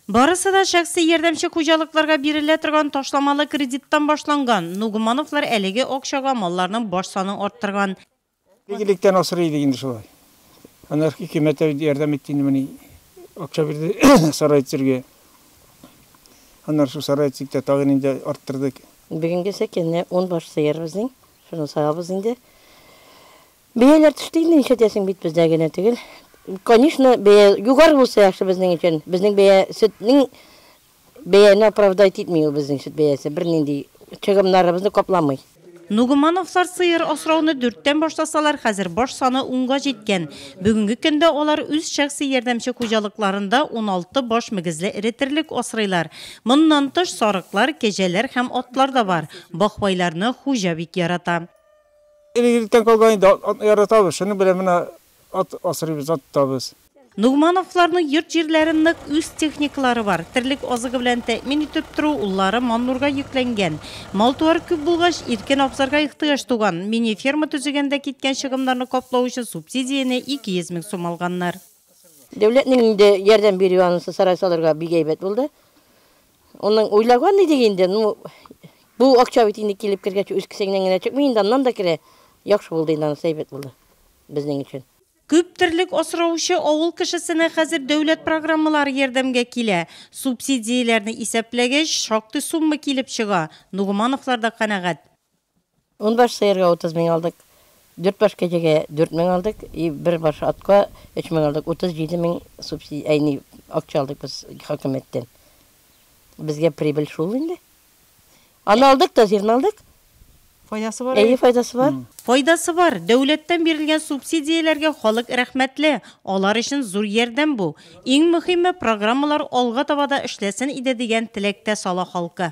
Барысы да шәхси ярдәмче хуҗалыкларга бирелә торган ташламалы кредиттан башланган. Нугмановлар әлеге акчага малларның баш санын арттырган. Бик электән асрый идек инде шулай. Аннары хөкүмәт тә ярдәм итте инде моны акча бирде сарай төзергә. Аннары шул сарай төзик тә тагын инде арттырдык. Бүгенгечә кенә ун баш сыер безнең, шуны савабыз инде. Бәяләр төште инде, нишләтәсең бит бездә генә түгел. Конечно, бәя югары булса яхшы безнең өчен. Безнең бәя сөтнең бәяне оправдать итми ул безнең сөт бәясе, бернинди чыгымнарыбызны капламый. Нугумановлар сыер асрауны дүрттән башласалар, хәзер баш саны унга җиткән. Бүгенге көндә алар үз шәхси ярдәмче хуҗалыкларында уналты баш мөгезле эре терлек асрыйлар. Моннан тыш, сарыклар, кәҗәләр һәм атлар да бар. Бахвайларны хуҗа бик ярата. Элек-электән калган инде, атны яратабыз, шуның белән менә ат асрыйбыз, ат тотабыз. Нугмановларның йорт-җирләре нык, үз техникалары бар. Терлек азыгы белән тәэмин итеп тору уллары Маннурга йөкләнгән. Мал-туар күп булгач, иркен абзарга ихтыяҗ туган. Мини-ферма төзегәндә киткән чыгымнарны каплау өчен субсидияне 200 мең сум алганнар. Дәүләтнең инде ярдәм бирүе анысы сарай салырга бик әйбәт булды. Онын уйлаган идек инде, ну бу акча бит инде килеп кергәч үз кесәңнән генә чыкмый инде, аннан да керә. Яхшы булды инде анысы, әйбәт булды безнең өчен. Күп терлек асраучы авыл кешесенә хәзер дәүләт программалары ярдәмгә килә. Субсидияләрне исәпләгәч, шактый сумма килеп чыга. Нугмановлар да канәгать. Унбаш сыерга утыз мең алдык, дүртбаш кәҗәгә дүрт мең алдык и бер баш атка өч мең алдык. Утыз җиде мең субси, әй, ни, акча алдык без хакимияттән. Безгә прибыль шул инде. Аны алдык та, зирны алдык. Файдасы бар, әйе? Әйе, файдасы бар. Файдасы бар. Дәүләттән бирелгән субсидияләргә халык рәхмәтле. Алар өчен зур ярдәм бу. Иң мөхиме, программалар алга таба да эшләсен иде дигән теләктә сала халкы.